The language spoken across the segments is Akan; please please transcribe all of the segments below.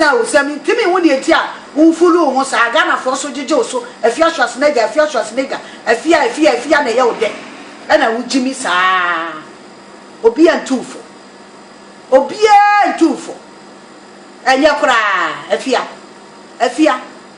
taa wo sɛ mentumi nhu deɛ nti a womfulu wo ho saa Ghanafoɔ so gyegye wo so Afia Schwarzenegger Afia Schwarzenegger Afia Afia Afia na ɛyɛ wo dɛ ɛna wogye mi saa Obia ntu wo fo Obia ntu wo fo Ɛnyɛ koraa Afia Afia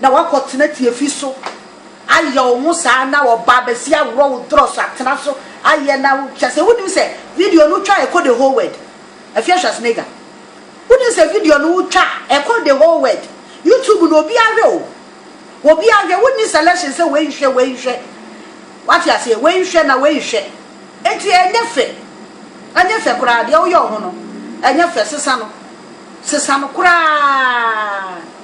Na woakɔtena tiafi so ayɛ wo ho saa na wɔba abɛsi aworɔ wo dorɔ so atena so ayɛ na wo kyɛ sɛ wonim sɛ video no wotwa a ɛkɔ the whole world Afia Schwarzenegger wonim sɛ video no wotwa a ɛkɔ the whole world YouTube no obiara hwɛ o obiara hwɛ wonni selection sɛ wei nhwɛ wei nhwɛ wate aseɛ wei nhwɛ na wei nhwɛ enti ɛnyɛ fɛ ɛnyɛ fɛ koraa deɛ woyɛ wo ho no ɛnyɛ fɛ sesa no sesa no koraa.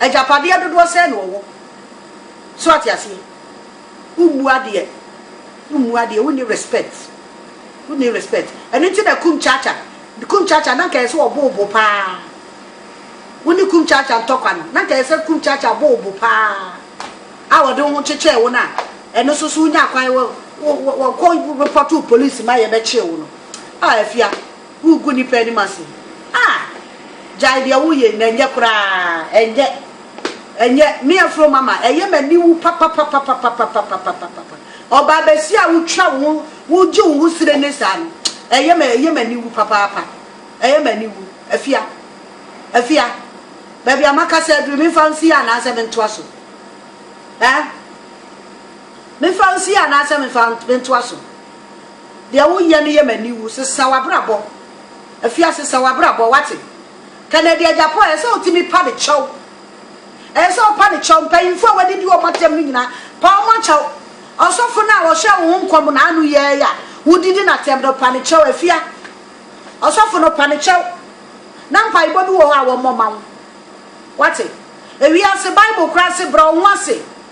Agyapadeɛ dodoɔ sɛn na ɔwɔ? So wate aseɛ? Wommu adeɛ, wommu adeɛ, wonni respect, wonni respect. Ɛno nti na Kumchacha, Kumchacha na nka ɛyɛ sɛ ɔbo wo bo paa. Wo ne Kumchacha ntɔkwa no, na nka ɛyɛ sɛ Kumchacha bo wo bo paa a ɔde wo ho kyekyɛɛ wo no a, ɛno nso so wonya kwan wɔ, wɔ, wɔ, kɔ report wo police ma yɛbɛkyee wo no. Ah, Afia, Wogu nnipa anim ase. Ah! Gyae deɛ woyɛ na ɛnyɛ koraa, ɛnyɛ, ɛnyɛ. Me afuro mama, ɛyɛ m'aniwu papapapapapapapapapapapa. Ɔbaa basia a wotwa wo ho, wogye wo ho sire ne saa no, ɛyɛ me, ɛyɛ m'aniwu papaapa. Ɛyɛ m'aniwu. Afia, Afia, baabi a makasa aduru, memfa nsi yɛ anaasɛ mentoa so? Ɛɛ? Memfa nsi yɛ anaasɛ memfa, mentoa so? Deɛ woyɛ no yɛ m'ani wu. Sesa w'abrabɔ. Afia sesa w'abrabɔ, wate? Kennedy Agyapong, ɛsɛ sɛ wotumi pa ne kyɛw. Ɛsɛ sɛ wopa ne kyɛw. Mpanyimfo a wɔadidi wɔn atɛm no nyinaa, pa wɔn kyɛw. Ɔsɔfo no a ɔhyɛɛ wo ho nkɔm na ano yɛ yi a wodidi no atɛm no, pa ne kyɛw. Afia, ɔsɔfo no, pa ne kyɛw. Na mpaebɔ bi wɔ hɔ a wɔmmɔ mma wo. Wate? Ewiase Bible koraa se, brɛ wo ho ase.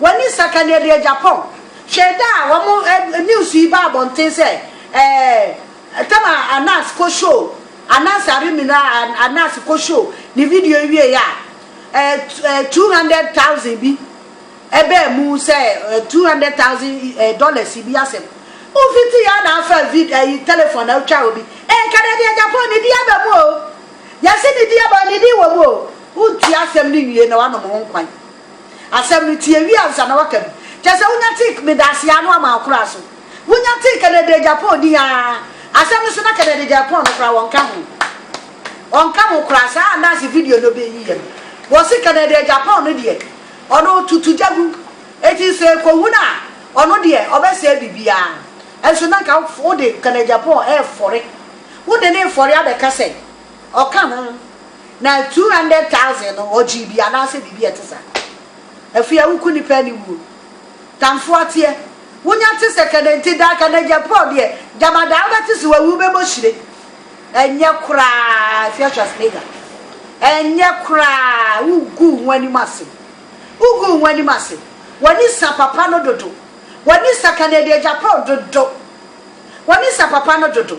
W'ani nsa ka nea ɛde agya pɔn. Hwɛ da a wɔn news yi baa abɔnten sɛ ɛɛ Tama Anas kɔ show Anas Aremina Anas kɔ show ne video yi wieɛ a ɛɛ ɛɛ two hundred thousand bi ɛbaa mu sɛ ɛɛ two hundred thousand ɛɛ dollars bi asɛm. Wofiti yɛ na afa vid ɛyi telephone na otwa obi ɛɛ ka nea ɛde agya pɔn ne din aba mu o yɛse ne din aba ne din wɔ mu o wontie asɛm no nwie na wanom ho nkwan. Asɛm no tie wie ansa na waka bi. Kyɛ sɛ wonya tik me da ase aa no ama akora so. Wonya tik kɛdɛdɛ Japan din aa. Asɛm no so na kɛdɛdɛ Japan no kora wɔnka ho. Ɔnka ho koraa saa andaase video no bɛ yiiɛ no. Wɔse kɛdɛdɛ Japan no deɛ ɔno ɔtutu gya gu. Eti sɛ ɛkɔ wu no a ɔno deɛ ɔbɛ sɛɛ biribiaa. Ɛnso na nka wode kɛdɛdɛ Japan ɛɛfɔre. Wode no refɔre abɛka sɛ. Ɔka ho, Na two hundred thousand no ɔgyee bi anaasɛ biribi a ɛte saa. Afei awuku nnipa aniwuo. Tamfoa teɛ. Wonya te sɛ kɛnɛ nti daa kɛnɛ gyɛ pɔɔ deɛ gyama daa wobɛte se wawu wobɛbɔ hyire. Ɛnyɛ koraa if you're Schwarzenegger. Ɛnyɛ koraa woguu ho anim ase. Woguu ho anim ase. W'ani sa papa no dodo. W'ani sa kɛnɛ deɛ gya pɔɔ dodo. W'ani sa papa no dodo.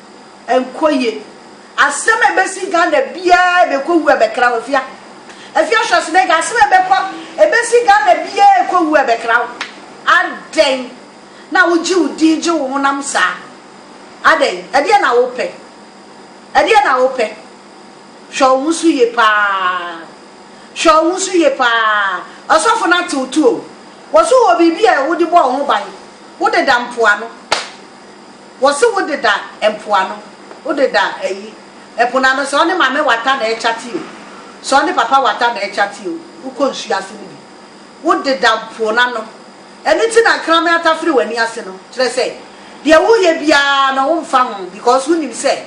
Ɛnkɔ yie. Asɛm a ɛbɛsi Ghana biara a ɛbɛkɔ wu a ɛbɛkra wo. Afia, Afia Schwarzenegger, asɛm a ɛbɛkɔ, ɛbɛsi Ghana biara a ɛkɔ wu a ɛbɛkra wo. Adɛn na wogye wo din gye wo honam saa? Adɛn? Ɛdeɛn na wopɛ? Ɛdeɛn na wopɛ? Hwɛ wo ho so yie paa. Hwɛ wo ho so yie paa. Ɔsɔfo no ate wo to o. Wɔ so wɔ biribi a wode bɔ wo ho ban. Wodeda mpoano. Wɔse wo deda mpoano, wo deda ayi, ɛpo no ano, sɛ ɔne mame wata na ɛrekyate o, sɛ ɔne papa wata na ɛrekyate o, wokɔ nsuo ase no bi. Wo deda po no ano. Ɛno nti na nkraman ata firi w'ani ase no. Kyerɛ sɛ, deɛ woreyɛ biara no wo mfa ho because wo nim sɛ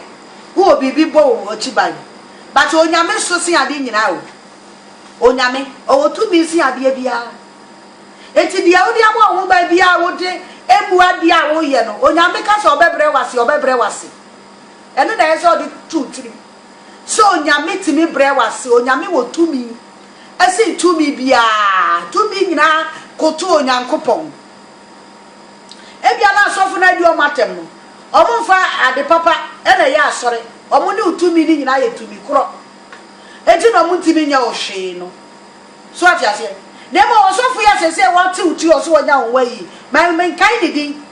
wo wɔ biribi bɔ wo akyi ban. But Onyame so sen adeɛ nyinaa o. Onyame, ɔwɔ tumi sen adeɛ biara. Enti deɛ wode abɔ wo ho ban biara a wode mmu adeɛ a woreyɛ no, Onyame ka sɛ ɔbɛbrɛ wo ase a, ɔbɛbrɛ wo ase. Ɛno na ɛsɛ sɛ wode to wo tirim sɛ Onyame tumi brɛ wo ase. Onyame wɔ tumi sen tumi biara. Tumi nyinaa koto Onyankopɔn. Ebia na asɔfo no adi wɔn atɛm no, wɔmfa ade papa na ɛyɛ asɔre, wɔn ne wo tumi no nyinaa yɛ tumi korɔ, enti na wɔntumi nyɛ wo hwee no. So wate aseɛ? Na mmom ɔsɔfo yi a seesei wɔatew tiri ɔse wɔanya wo nwa yi, ma menkae ne din,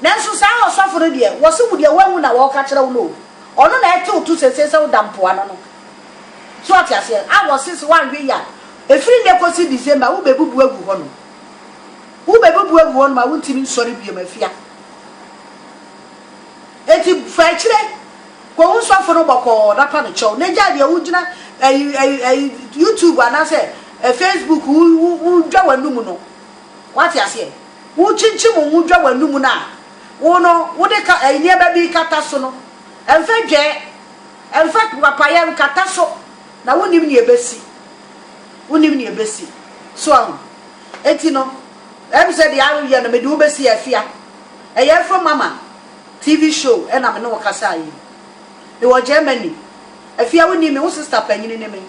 nanso saa ɔsɔfo no deɛ, wɔse wo deɛ woawu na wɔreka kyerɛ wo no o, ɔno na ɛtew to seesei sɛ woda mpoano no. So wate aseɛ? A wɔse se woanwe yi a, ɛfiri nnɛ kɔsi December wobɛbubu agu hɔnom. Wobɛbubu agu hɔnom a wontumi nsɔre biom afia. Enti fa akyire. Kɔ wo sɔfo no bɔkɔɔ na pa no kyɛw na gyae deɛ wogyina ɛyi ɛyi ɛyi YouTube anaasɛ ɛ Facebook wo wo wodwa w'anum no. Wate aseɛ? Wokyinkyim wo ho dwa w'anum no a wo no wode ka ɛyi nneɛma bi kata so no, ɛmfa dwɛɛ, ɛmfa papaeɛ nkata so na wonim nea ɛbɛsi. Wonim nea ɛbɛsi. So ahu? Enti no ɛm sɛ deɛ ayɛ no mede wo bɛsi afia. Ɛyɛ afam ama. TV show na me ne wo kasaa yi. Mewɔ Germany. Afie a wonnim me, wo sista panyin ne me.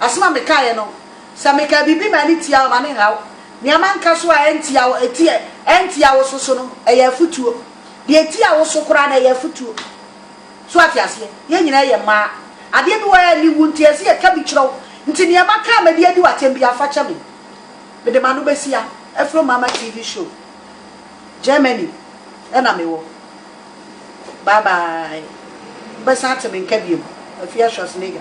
Asɛm a mekaeɛ no, sɛ meka biribi ma ani tia wo a, ma no nha wo. Nea manka so a ɛntia wo, ɛtia, ɛntia wo so so no, ɛyɛ afotuo. Deɛ ɛtia wo so koraa no, ɛyɛ afotuo. So ate aseɛ? Yɛn nyinaa yɛ mmaa. Adeɛ bi wɔ hɔ a ɛnni wo nti, ɛsɛ sɛ yɛka bi kyerɛ wo. Nti nea maka a mede adi wo atɛm biara, fa kyɛ me. Mede m'ano bɛsi ha, afiri wo mama TV show. Germany na me wɔ. Bye bye. Wo bɛ san te me nka biom. Afia Schwarzenegger.